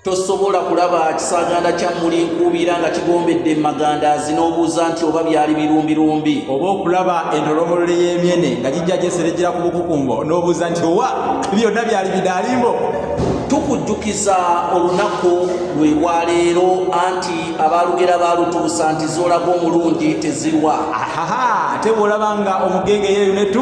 tosobola kulaba kisaganda kya muli nkuubira nga kigombedde emaganda zinoobuuza nti oba byali birumbirumbi oba okulaba entolomolole y'emyene nga gijja gyeserejera ku bukukumbo n'obuuza nti owa byonna byali bidaalimbo tukujjukiza olunaku lwe lwaleero anti abaalugera baalutuusa nti zoolaga omulungi tezirwa ahaha ate bw'olaba nga omugenge yeeyo netu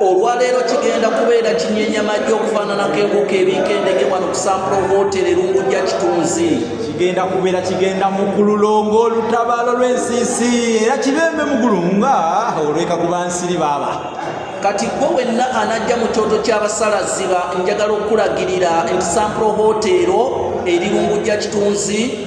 olwaleero kigenda kubeera kinyenya majje okufaananako enkoko ebiika endege wano kusampula obuwotere lungujja kitunzi kigenda kubeera kigenda mu gululo ng'olutabaalo lw'ensiisi era kibembe mu gulu nga olweka ku bansiri baaba kati gwe wenna anajja mu kyoto ky'abasalaziba njagala okukulagirira nti sampula obuwoteero eri lungujja kitunzi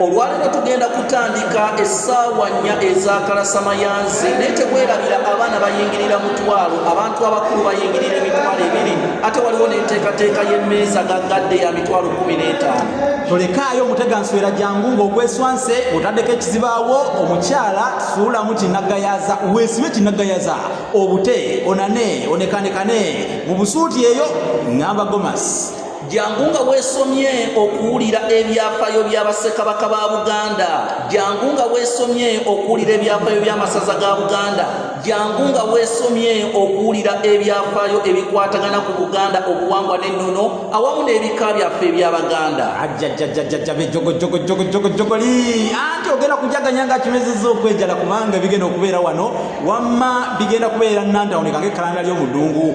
olwaleero tugenda kutandika essaawa nnya ezakalasamayanzi naye tekwerabira abaana bayingirira mutwalo abantu abakulu bayingirira emitwalo ebiri ate waliwo n'enteekateeka y'emmeeza gaggadde ya mitwalo kumi n'etaano tolekaayo omutega nswera jangu ng'ogweswanse otaddeko ekizibaawo omukyala suulamu kinagayaza weesibe kinagayaza obute onane onekanekane mu busuuti eyo ngamba gomasi jangu nga weesomye okuwulira ebyafaayo bya bassekabaka ba buganda jangu nga weesomye okuwulira ebyafaayo by'amasaza ga buganda jangu nga weesomye okuwulira ebyafaayo ebikwatagana ku buganda obuwangwa n'ennono awamu n'ebika byaffe ebyabaganda ajjajjajjajjabejogojogojogojogoli anti ogenda kujaganya nga kimezeza okwejala kubanga bigenda okubeera wano wamma bigenda kubeera nantawuni kange ekalanda ly'omudungu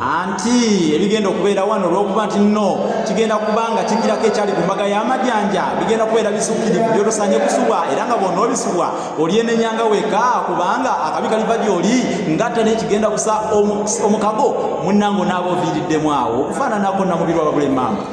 anti ebigenda okubeera wano olwokuba nti nno kigenda kuba nga kigirako ekyali ku mbaga y'amajanja bigenda kubeera bisukkirivu byotosanye kusubwa era nga bwona obisubwa olyenenyanga weka kubanga akabi kaliva gyoli ngatta naye kigenda kusa omukago munnange onaabaoviiriddemu awo okufaananako namubirwa babule maama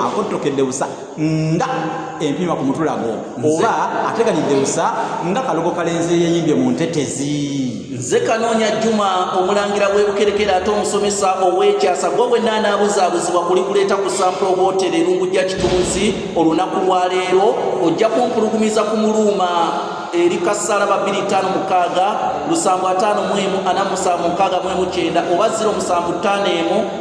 akottokedde busa nga empiima ku mutulago oba ateganidde busa nga kalogo kalenzi eyeyimbye mu ntetezi nze kanoonya juma omulangira w'ebukerekera ate omusomesa ow'ekyasa gwe bwenna anaabuzaabuzibwa kuli kuleeta ku sample hotel erungu gya kitunzi olunaku lwa leero ojja kumpulugumiza ku muluuma eri kassala ba 25 lusanvu 5 mwemu 47 mwemu 9 oba 0 musanvu 5 emu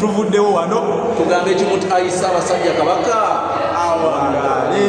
tuvuddewo wano tugambe ekimu ti ayi ssaabasajja kabaka awangaale